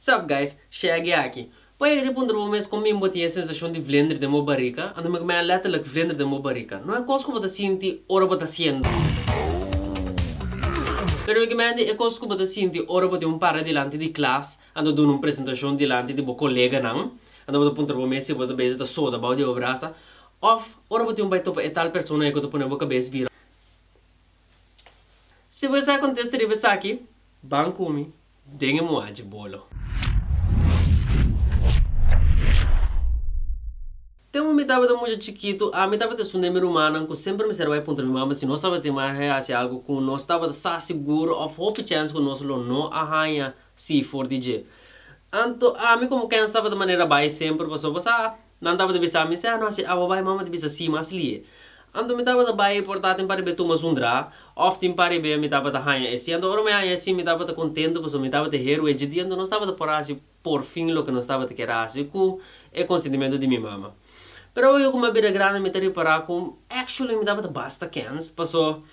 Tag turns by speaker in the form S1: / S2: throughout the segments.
S1: Sup guys, Shaggy aki. Poi e di puntra bo mes con bin bo tin e sensacion di vlender den bo barica? Anto mi cumen a letterlijk vlender den bo barica. No e cos cu bo ta sinti ora bo ta haciendo. Pero mi cumen di e cos cu bo ta sinti ora bo tin un para dilanti di clas, anto duna un presentacion dilanti di bo coleganan, anto bo ta puntra bo mes si bo ta bezi ta soda bao di bo brasa, of ora bo tin bay topa e tal persona cu ta pone bo cabes bira. Si bo e sa contesta riba esaki, ban cu mi. Den e muha dje bolo. Tempo mi tabata mucha chikitu, ami tabata esun den mi rumannan ku semper mi serba e puntra mi mama si nos tabatin mas e hasi algu ku nos tabata sa sigur òf hopi chèns ku nos lo no a haña si for di dje. Anto ami komo kèns tabata manera bai semper pasobra sa Nan tabata bisa mi, Sea, no hasi awa bai, mama ta bisa, Si, mas lie. Anto mi tabata bai e porta tin pa riba e tuma sun dra, of tin pa riba e mi tabata haña e si. Anto ora mi haña e si mi tabata contento pasobra mi tabata heru e dje di anto nos tabata por hasi por fin loke nos tabata kier hasi cu e consentimento di mi mama. Pero awe cu mi a bira grandi mi ta ripara cu actually mi tabata basta kens pasobra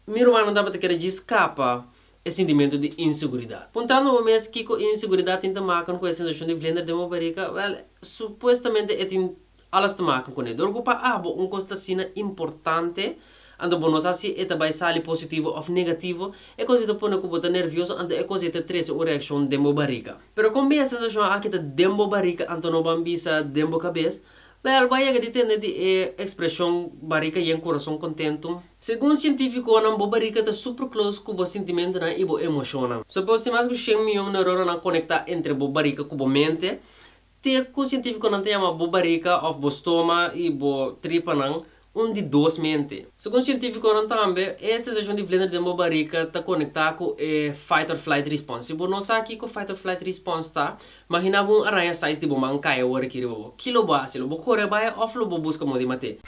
S1: mi rumannan tabata kier dje scapa e sintimentu di inseguridat. Puntrando bo mes kiko e inseguridat tin ta makan ku e sensashon di blender den bo barika, wèl, supuestamente e tin alas ta makan kuné. Dor ku pa abo un kos ta asina importante, anto bo no sa si e ta bai sali positivo òf negativo, e kos ei ta pone ku bo ta nervioso anto e kos ei ta trese un reakshon den bo barika. Pero kon bier e sensashon aki ta den bo barika anto no ban bisa den bo kabes, Bel, bo a yega di tende di e ekspreshon barika yen kurason kontentu? Segun sientifikonan, bo barika ta super klos ku bo sintimentunan i bo emoshonnan. So pos, tin mas ku shen miyon neuronanan konektá entre bo barika ku bo mente. Te ku sientifikonan ta yama bo barika òf bo stoma i bo tripanan un di dos mente. Segun sientífikonan tambe, e sensashon di vlender den bo barika ta konektá ku e fight-or-flight respons. Si bo no sa kiko fight-or-flight respons ta, magina bo un araña sais di bo man kaya ora ki riba bo. Ki lo bo hasi? Lo bo kore a bai òf lo bo buska modi mat'é?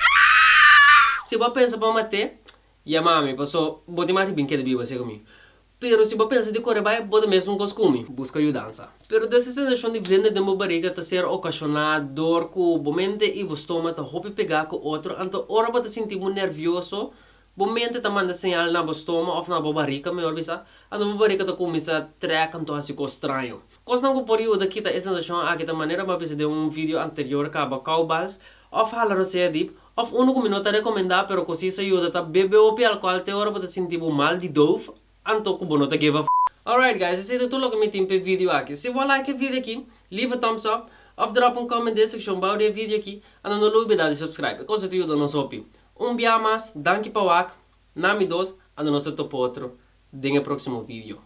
S1: Si bo a pensa pa mat'é, yamami, pasobra bo tin mati bin keda biba segun mi. Pero si bo pensa di kore bai, bo ta mesmu kos ku mi, buska yudansa. Pero des e sensashon di vende den bo bariga ta ser okashoná dor ku bo mente i bo stoma ta hopi pegá ku otro. Anto ora bo ta sinti bo nervioso, bo mente ta manda señal na bo stoma òf na bo bariga, mihor bisa, anto bo bariga ta kuminsá trèk anto hasi kos straño. Kosnan ku por yuda kita e sensashon aki ta manera bo a bisa den un vidio anterior kaba Cowbals òf hala rosea dip, òf unu ku mi no ta rekomendá pero ku si sa yuda ta bebe hopi alkohòl te ora bo ta sinti bo mal di dove anto ku bo no ta give a f. Alright guys, esei ta tur loke mi tin p'e vidio aki. Si bo a like e vidio aki, leave a thumbs up òf dròp un comment den e sekshon bou di e vidio aki, anto no lubida di subscribe, e kos ei ta yuda nos hopi. Un biaha mas, danki pa wak, na mi dos, anto nos ta topa otro den e próksimo vidio.